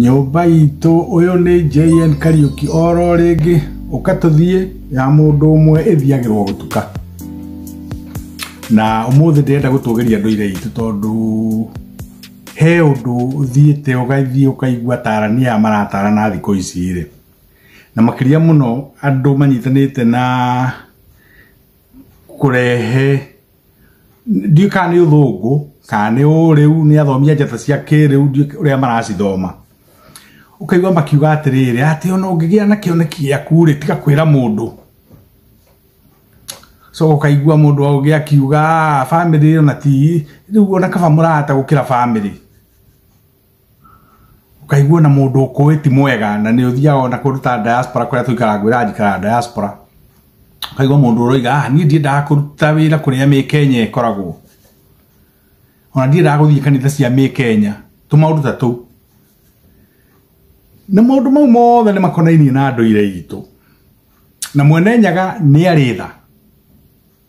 nyũmba itũ ũyũ nĩ jn kariũki oro rĩngĩ ũka tũthiĩ ya mũndũ ũmwe ĩthiagĩrwo gũtuka na ũmũthĩ ndĩrenda gũtũgĩria ndũire itũ tondũ he ũndũ ũthiĩte ũgathiĩ ũkaigua tarania maratarana thikũ ici rĩ na makĩria mũno andũ manyitanĩte na kũrehe ndiũ kana nĩ ũthũngũ kana nĩ ũrĩu nĩ athomia njata cia kĩrĩu ndiũ ũrĩa maracithoma ũkaigua makiuga atĩrĩrĩ atĩ ona ũngĩgĩa na kĩoneki gĩaku rĩ tiga kwĩra mũndũ so ũkaigua mũndũ aũgĩ akiuga "Ah, family ona ti rĩu ona kaba mũrata gũkĩra family ũkaigua na mũndũ ũkũĩ ti mwega na nĩ ũthiaga ona kũruta diaspora kũrĩa tũikara ngwĩra njikara diaspora ũkaigua mũndũ ũroiga ah niĩ ndiendaga kũruta wĩra kũrĩa mĩ kenya ĩkoragwo ona ndiendaga gũthiĩ kanitha cia mĩ kenya tũmaũndũ ta tũu na maũndũ mau mothe nĩ makonainie na ndũire itũ na mwene nyaga nĩ arĩ tha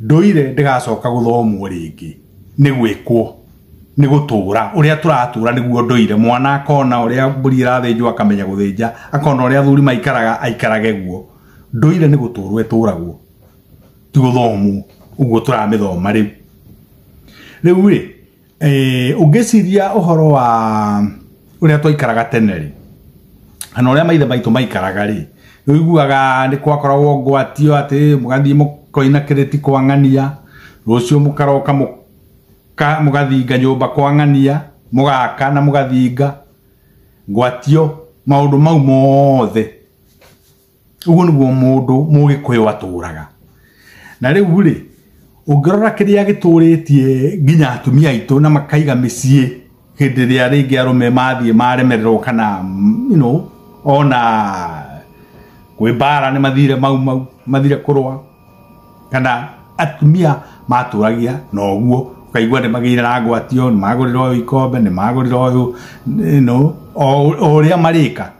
ndũire ndĩgacoka gũthomwo rĩngĩ nĩ gwĩkwo nĩ gũtũra ũrĩa tũratũra nĩguo ndũire mwana akona ũrĩa mbũri ĩrathĩnjwo akamenya gũthĩnja akona ũrĩa athuri maikaraga aikarage guo ndũire nĩ gũtũrwo ĩtũragwo ti gũthomwo ũguo tũramĩthoma rĩu rĩu rĩ Eh, ũngĩciria ũhoro wa ũrĩa twaikaraga tene rĩ kana ũrĩa maithe maitũ maikaraga rĩ ũiguaga nĩ kwakoragwo ngwatio atĩ mũgathiĩ mũkoina kĩrĩti kwa ng'ania rũciũ mũkaroka mũka- mũgathinga nyũmba kwa ng'ania mũgaka na mũgathinga ngwatio maũndũ mau mothe uguo niguo mundu mugikuyu aturaga na riu ri ungirora kiria gituritie nginya atumia aitu na makaiga micie hindi ria ringi arume mathie maremererwo kana mm, you know ona kwĩ mbara nĩ mathire mau mau mathire kũrũa kana atumia matũragia na ũguo ũkaigua nĩ magĩire na ngwatio nĩ magũrĩra ũyũ ikombe nĩ magũrĩra ũyũ no o o ũrĩa marĩka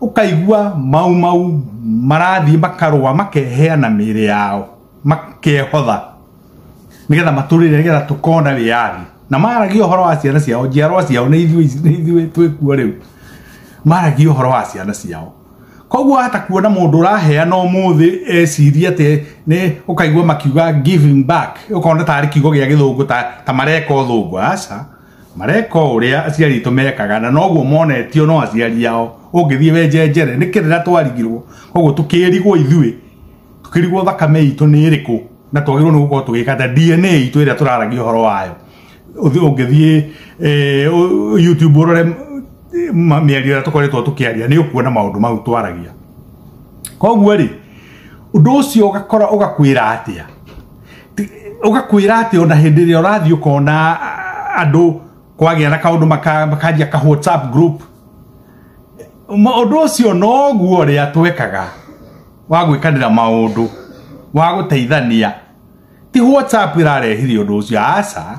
ukaigua mau mau marathiĩ makarũa makeheana mĩĩrĩ yao makehotha nigetha matũrĩre nigetha tukona wĩyathi na maragia ũhoro wa ciana ciao njiarwa ciao nĩ ithuĩ ici- nĩ ithuĩ twĩkuo rĩu maragia ũhoro wa ciana ciao koguo hata kuona mũndũ ũraheana ũmũthĩ eciria atĩ nĩ ũkaigua makiuga giving back ũkona tarĩ kiugo gĩa gĩthũngũ ta, ta mareka ũthũngũ aca mareka o ũrĩa aciari aitũ mekaga na noguo monetio no aciari ao ũngĩthiĩ wenjenjere nĩ kĩrĩra twarigirwo koguo tũkĩrigwo ithuĩ tũkĩrigwo thakame itũ nĩ ĩrĩkũ na twagĩrĩirwo nĩ gũkorwo tũgĩka ta dna itũ ĩrĩa tũraragia ũhoro wayo Ũthi- ũngĩthiĩ eh, ũ- youtube ũrore eh, ma- mĩario ĩrĩa tũkoretwo tũkĩaria nĩ ũkuona maũndũ mau twaragia koguo rĩ ũndũ ũcio ũgakora ũgakwĩra atĩa ugakwira ati ona hindi ria urathi ukona andu kwagĩa na kaundu makanjia ka whatsapp group maundu ucio noguo ria twekaga wa gwikanira maundu wa guteithania ti whatsapp irarehire undu ucio aca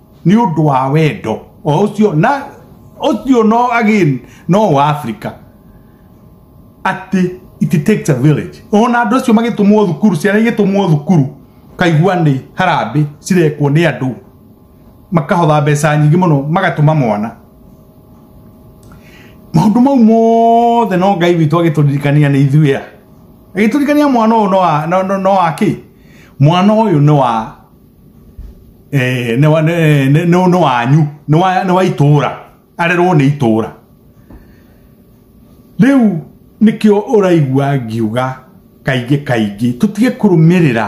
nĩ ũndũ wa wendo o ũcio na ũcio no again no wa Africa atĩ it takes a village ona andũ acio magĩtũmwo thukuru ciana igĩtũmwo thukuru kaigua nĩ harambĩ cirekwo nĩ andũ makahotha mbeca nyingĩ mũno magatũma mwana maũndũ mau mothe no ngai witũ agĩtũririkania nĩ ithuĩ a agĩtũririkania mwana ũyũ no wa- no- no- no wa kĩ mwana ũyũ nĩ wa eh, nĩ wa- nĩ- nĩ- nĩ- nĩ wanyu nĩ wa- nĩ wa itũũra arerwo nĩ itũũra rĩu nĩkĩo ũraigua ngiuga kaingĩ kaingĩ tũtige kũrũmĩrĩra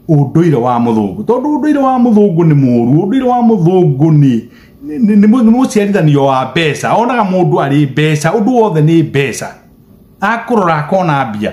ũndũire wa mũthũngũ tondũ ũndũire wa mũthũngũ nĩ mũũru ũndũire wa mũthũngũ nĩ nĩ- nĩ- nĩ mũ- nĩ mũciarithanio wa mbeca onaga mũndũ arĩ mbeca ũndũ wothe nĩ mbeca akũrora akona mbia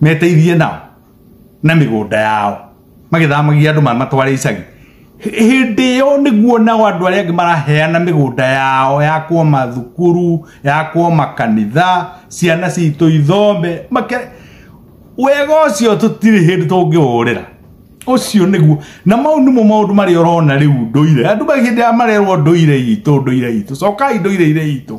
meteithie nao na mĩgũnda yao magĩthamagia andũ matware icagi hĩndĩ ĩyo nĩguo nao andũ arĩa angĩ maraheana mĩgũnda yao ya kwa mathukuru ya kwa makanitha ciana citũ ithombe make wega ũcio tũtirĩ hĩndĩ tũngĩũrĩra ũcio nĩguo na mau nĩmo maũndũ marĩa ũrona rĩu ndũire andũ magĩhĩndĩ ya marerwo ndũire itũ ndũire itũ cokai ndũire-inĩ itũ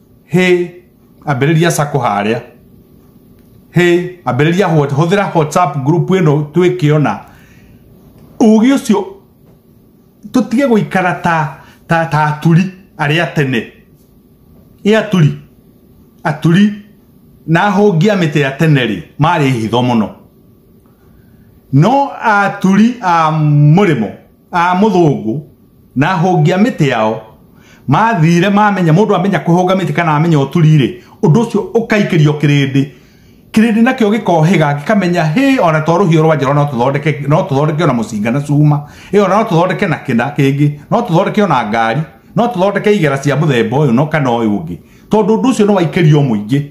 hä ambĩrĩria sako harĩa hä ambĩrĩria what- hũthĩra whatsapp group ĩno twĩkĩona ũgĩ ũcio tũtige gũikara ta ta ta aturi arĩa tene ĩ aturi aturi na ahũngia mĩtĩ ya tene rĩ marĩ hitho mũno no aturi a mũrĩmo a mũthũngũ na hongia mĩtĩ yao mathire mamenya mũndũ amenya kũhũnga mĩtĩ kana amenya ũturire ũndũ ũcio ũkaikĩrio kĩrĩndĩ kĩrĩndĩ nakĩo gĩkohĩga gĩkamenya hĩ ona to rũhiũ rwa njora no tũthondeke no tũthondeke ona mũcinga na cuma ĩyo no tũthondeke na kĩna kĩngĩ no tũthondeke ona ngari no tũthondeke igera cia mũthemba ũyũ no kana ũyũ ũngĩ tondũ ũndũ ũcio nĩ waikĩrio mũingĩ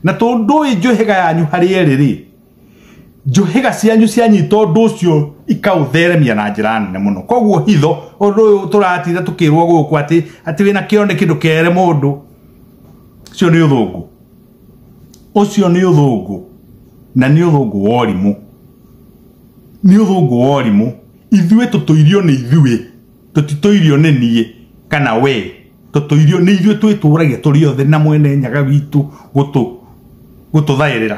na tondũ ĩ njũhĩga yanyu harĩ erĩ rĩ njũhĩga cianyu cianyita ũndũ ũcio ikaũtheremia na njĩra nene mũno koguo hitho ũndũ ũyũ tũratinda tũkĩrwo gũkũ atĩ atĩ wĩna kĩo nĩ kĩndũ kere mũndũ ũcio nĩ ũthũngũ ũcio nĩ ũthũngũ na nĩ ũthũngũ wa ũrimũ nĩ ũthũngũ wa ũrimũ ithuĩ tũtũirio nĩ ithuĩ tũtitũirio nĩ niĩ kana wee tũtũirio nĩ ithuĩ twĩtũragia tũrĩ othe na mwene nyaga witũ gũtũ gũtũthaĩrĩra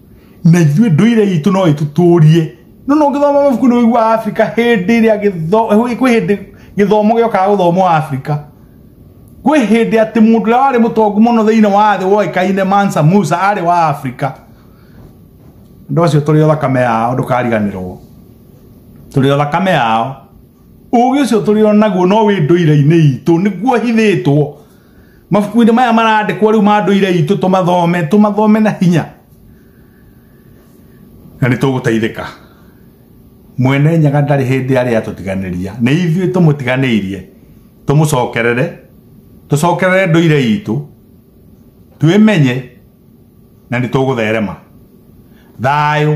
na ithuĩ ndũire itũ no ĩtũtũrie no no ngĩthoma mabuku nĩ ũigua Afrika hĩndĩ ĩrĩa gĩtho- kwĩ hĩndĩ gĩthomo gĩokaga gũthomwo Afrika kwĩ hĩndĩ atĩ mũndũ ũrĩa warĩ mũtongu mũno thĩinĩ wa thĩ woĩkaine Mansa Musa arĩ wa Afrika andũ acio tũrĩ o thakame yao ndũkariganĩrwo tũrĩ o thakame yao ũgĩ ũcio tũrĩ o naguo no wĩ ndũire-inĩ itũ nĩguo hithĩtwo mabuku-inĩ maya marandĩkwo rĩu ma ndũire itũ tũmathome tũmathome na hinya na nĩ tũgũteithĩka mwene nyaga ndarĩ hĩndĩ arĩa atũtiganĩria nĩ ithuĩ tũmũtiganĩirie tũmũcokerere tũcokerere ndũire itũ twĩmenye na nĩ tũgũtherema thayũ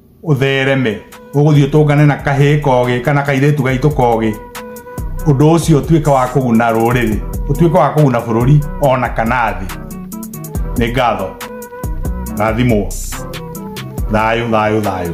ũthereme ũgũthiĩ ũtũngane na kahĩĩ kogĩ kana kairĩtu gaitũ kogĩ ũndũ ũcio ũtuĩke wa kũguna rũrĩrĩ ũtuĩke wa kũguna bũrũri ona kana thĩ nĩ ngatho rathimwo thayũ thayũ thayũ